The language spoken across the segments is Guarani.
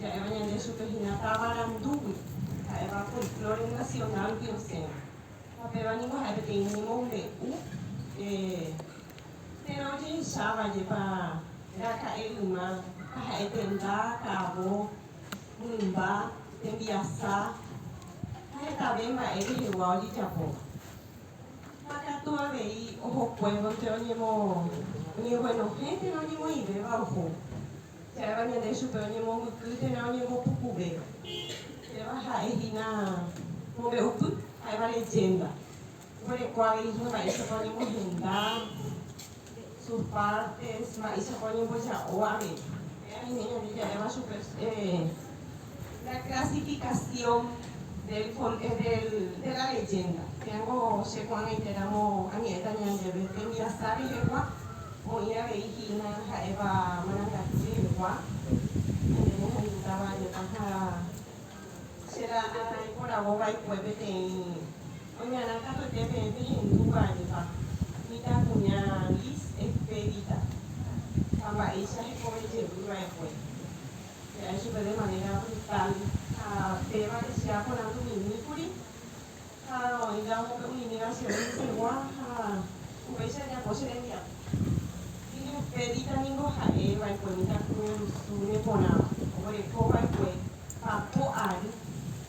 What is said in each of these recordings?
Ja'éva ñande chupe hína táva randúgui, ha'éva folklore nacional-gui osẽva. Ha péva ningo ha'e peteĩ ñemombe'u, térã ojehechávajepa raka'e yma, ha ha'e tenda, ka'avo, mymba, tembiasa, ha hetave mba'e rehegua ojejapóva. Ha katu avei ohokuévonte oñeguenohẽ térã oñemoĩvéva oho. Ha'éva ñande chupe oñemombyky térã oñembopukuve. Péva ha'e hína mombe'upy, ha'éva leyénda. Oguereko avei hína mba'éichapa oñemohenda, sus pártes, mba'éichapa oñemboja'o avei. Péva ñande ja'éva chupe. La clasificación del de la leyenda tengo che ko'ag̃aite ramo añe'ẽta ñandéve tembiasa rehegua oĩ avei hína ha'éva marangatu rehegua ñande rehayhútava jepa ha che la iporavo vaikue peteĩ oñarã katuete peẽ pehendúva jepa mitã kuña Liz Expedita ha mba'éicha hekove jevy va'ekue. He'ãi chupe de manera brutal ha péva Lisiá poranduminíkuri ha oĩta upe umi negación rupigua ha upéicha japo che rembiapo. Hi'u pedita ningo ha'e vaekue mitãkuña Rusúre porãva oguerekóva'ekue papo ary.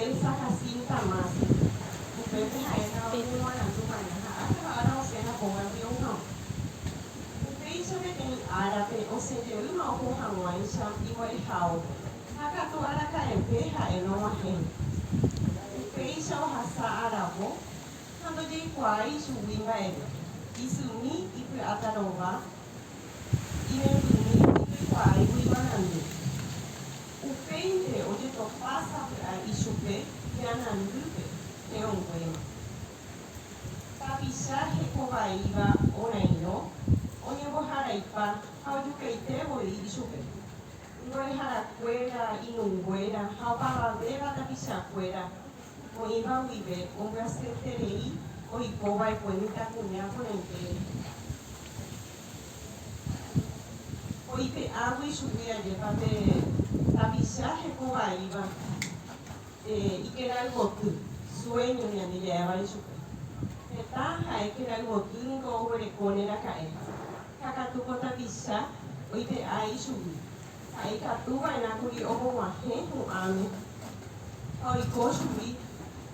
Elsa Jacinta Masi, upépe ha'étava umi guarandu maña ha ág̃akua ára osẽna póga rrío hag̃ua. Upéicha peteĩ árape osẽ jeýma oho hag̃uáicha iguareháope. Ha katu araka'eve ha'e nog̃uahẽ. Upéicha ohasa aravo ha ndojeikuaái ichugui mba'eve, isymi, ipy'áta rova, irepymi, ndoikuaáigui guarandu. Upéinte ojetohása py'ae ichupe Janandýpe terõnguéma. Tapicha hekovaíva orãirõ oñemboharaipa ha ojukaite voi ichupe. Mboreharakuéra, inunguéra ha opavavéva tapichakuéra oĩva guive ombyasyeterei oikova'ekue mitãkuña porãite rehe. Oipe'ávo ichupe ajépa pe tapicha heko vaíva ikerayvoty, sueño ñande ja'évare ichupe. Heta ha'e kerayvoty niko oguerekóne raka'e, ha katu ko tapicha oipe'a ichugui, ha'e ikatu va'erã kuri omoguahẽ hu'ãme ha oiko chugui.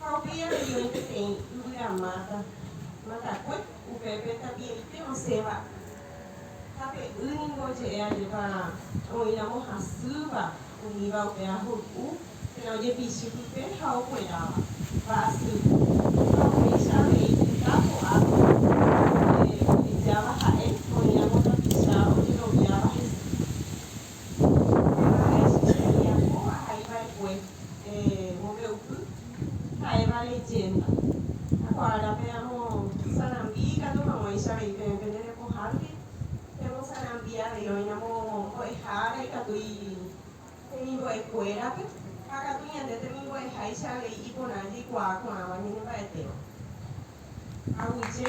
Ha upéi avei peteĩ yvyra máta, matakue, upépe tapiaite osẽva. Ha pe y ningo oje'e ajépa oĩramo hasýva umíva upe ahuru'u, térã ojepichy pype ha okueráva, mba'asy. Ha upéicha avei heta ko'ápe ojehejáva ha'e, oĩramo tapicha ojeroviáva hese. Ha'e che rembiapo ahai va'ekue mombe'upy ha'éva leyénda. Ha ko árape amo sarambi ikatu hag̃uáicha avei peẽ pende repohánte pemosarambi avei oĩramo mbo'eha ára ikatu temimbo'ekuérape ha katu ñande temimbo'eháicha avei iporã jaikuaa ko'ãva ñanemba'etéva. Aguyje.